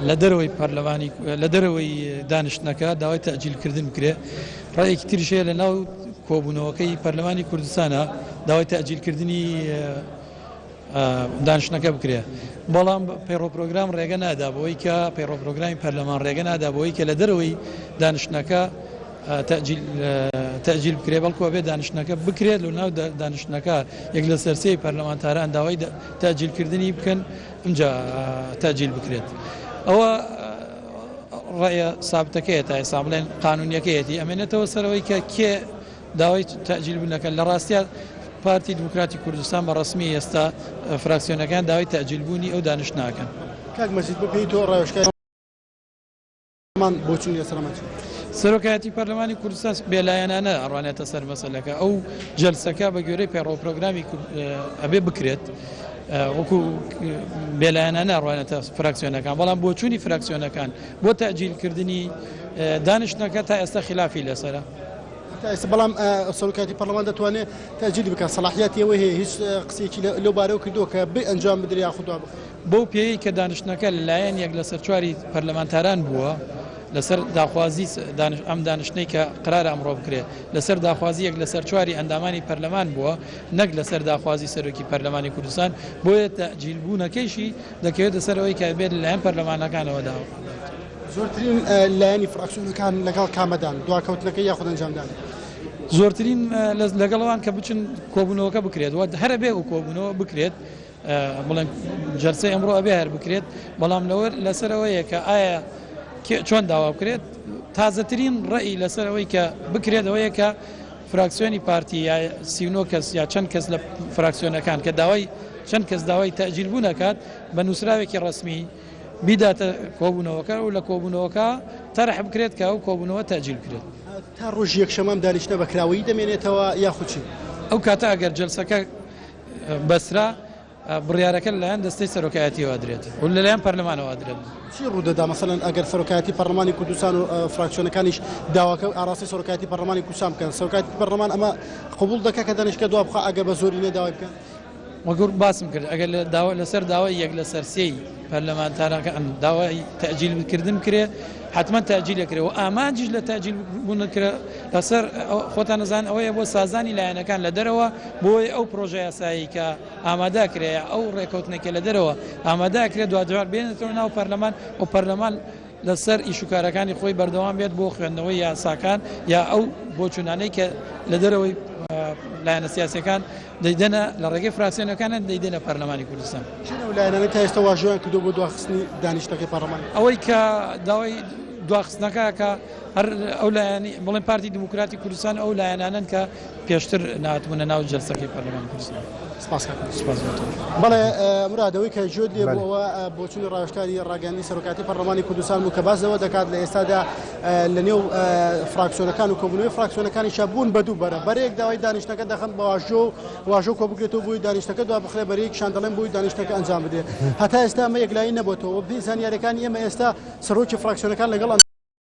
لە دەرەوەی پەرلەمانی لە دەرەوەی دانیشتنەکە داوای تەجیلکردن بکرێ ڕێکی ترشەیە لە ناو کۆبوونەوەکەی پەرلەمانی کوردستانە داوای تەجیلکردنی دانیشتنەکە بکرێ بەڵام پەیڕۆپۆگرام ڕێگە نادا بۆی کە پەیڕۆپۆگرامی پەرلەمان ڕێگە نادا بۆی کە لە دەرەوەی دانیشتنەکە تەجیل بکرێ بەڵکوە بێ دانیشتنەکە بکرێت لە ناو دانیشتنەکە یەک لە سەرسەی پەرلەمانتاران داوای تاجیلکردنی بکەن ئینجا تەجیل بکرێت ئەوە ڕێە سابتەکەی تا ئێستا بڵێن قانونیەکەیەتی ئەمێنێتەوە سەرەوەی کە کێ داوای تاجیل بنەکە لە ڕاستە پارتی دموکراتی کوردستان بە ڕسمی ئێستا فراکسیۆنەکان داوای تاجیلبوونی ئەو دانیش ناکەن کاک مەزید بپیتەوە ڕێوشکە مان بۆ چوونی سەرمەچ. سەرۆکایەتی پەرلەمانی کوردستان بێلایەنانە ئەڕوانێتە سەر مەسەلەکە ئەو جەلسەکە بە گوێرەی پەیڕۆ پرۆگرامی ئەبێ بکرێت وەکو بێلایەنانە ئەڕوانێتە فراکسیۆنەکان بەڵام بۆچوونی فراکسیۆنەکان بۆ تاجیلکردنی دانیشتنەکە تا ئێستا خلافی لەسرە. ئێستا بەڵام سەرکاتی پەرلەمان دەتوانێت تاجیل بکە سەڵاحیاتی ئەوەی هەیە هیچ قسێکی لەو بارەوە کردووە کە بێ ئەنجام بدریا خوددا بخ بەو پێیەی کە دانیشتنەکە لەلایەن یەک لەسەر چواری پەرلەمانتاران بووە لەسەر داخوازی ئەم دانیشتنەی کە قرارە ئەمڕۆ بکرێت لەسەر داخوازی یەک لەسەر چواری ئەندامانی پەرلەمان بووە نەک لەسەر داخوازی سەرۆکی پەرلەمانی کوردستان بۆیە تەجیل بوونەکەیشی دەکەوێتە سەرەوەی کە بێت لەلایەن پەرلەمانەکانەوە داوە. زۆرترین لایەنی فراکسیۆنەکان لەگەڵ کامەدان دواکەوتنەکە یاخود ئەنجامدان. زۆرترین لەگەڵەوان کە بچن کۆبوونەوەکە بکرێت وە هەرە بێ و کۆبوونەوە بکرێت بڵێن جەرسە ئەمڕۆ ئەبێ هەر بکرێت بەڵام لەوە لەسەرەوەیە کە ئایا چۆن داوا بکرێت تازەترین ڕێی لەسەرەوەی کە بکرێتەوەیە کە فراکسیۆنی پارتی یا سیونۆ کەس یا چەند کەس لە فراکسیۆنەکان کە داوای چەند کەس داوای تەجیل بوو نەکات بە نووسراوێکی ڕسمی بیداتە کۆبوونەوەکە و لە کۆبوونەوەکە تەرح بکرێت کە ئەو کۆبوونەوە تەجیل بکرێت تا ڕۆژ یەکشەمام دانیشتە بەکراوەی دەمێنێتەوە یاخوچی ئەو کاتە ئەگەر جلسەکە بەسرا، بڕیارەکە لەلایەن دەستەی سەرۆکایەتیەوە درێت و لەلایەن پەرلەمانەوە درێت. چی ڕوودەدا مەسەلەن ئەگەر سەرۆکایەتی پەرلەمانی کوردستان و فراکسیۆنەکانیش داواکە و ئاراستەی سەرۆکایەتی پەرلەمانی کوردستان بکەن سەرۆکایەتی پەرلەمان ئەمە قبول دەکە کە دانیشتگە دوا بخوا ئەگەر بە زۆرینە داوای بکەن وەگوور باسم کرد ئەگەر لە داوا لەسەر داوای یەک لەسەر سێی پەرلەمانتارەکان داوای تەئجیل بکردن بکرێ حتمما تەئجیل ئەکرێ و ئامانجیش لە تەئجیل بوونەکرا لەسەر خۆتان نەزان ئەوەیە بۆ سازانی لایەنەکان لە دەرەوە بۆی ئەو پرۆژە یاسایی کە ئامادا کرێ ئەو ڕێکەوتنێکە لە دەرەوە ئامادا کرێ دوا جار بێنێتەوە ناو پەرلەمان و پەرلەمان لەسەر ئیش و کارەکانی خۆی بەردەوام بێت بۆ خوێندنەوەی یاساکان یا ئەو بۆچوونانەی کە لە دەرەوەی لایەنە سیاسەکان دەیدەنە لە ڕێگەی فراسیۆنەکانە دەیدەنە پەرلەمانی کوردستان لایەنەکە تا ئێستا واژۆیان کردو بۆ دواخستنی دانیشتەکەی پەرلەمان ئەوەی کە داوای دواخستنەکە کە هەر ئەو لایەنی بڵێن پارتی دیموکراتی کوردستان ئەو لایەنانن کە پێشتر ناتبوونە ناو جەلسەکەی پەرلەمانی کوردستان. سپاس کاک مراد. سپاس بۆ تۆش. بەڵێ مراد ئەوەی کە جوێت لێ بوو ئەوە بۆچوونی ڕاوێژکاری ڕاگەیاندنی سەرۆکاتی پەرلەمانی کوردستان بوو کە باس لەوە دەکات لە ئێستادا لەنێو فراکسیۆنەکان و کۆبوونەوەی فراکسیۆنەکانیشا بوون بە دوو بەرە بەرەیەک داوای دانیشتنەکە دەخەن بە واژۆ و واژۆ کۆ بگرێتەوە بووی دانیشتەکە دوا بخرێ بەرەیەکیشان دەڵێن بووی دانیشتەکە ئەنجام بدرێت هەتا ئێستا ئەمە یەکلایی نەبووتەوە بزانیارەکانی ئێمە ئێستا سەرۆکی فراکسیۆنەکان لەگەڵ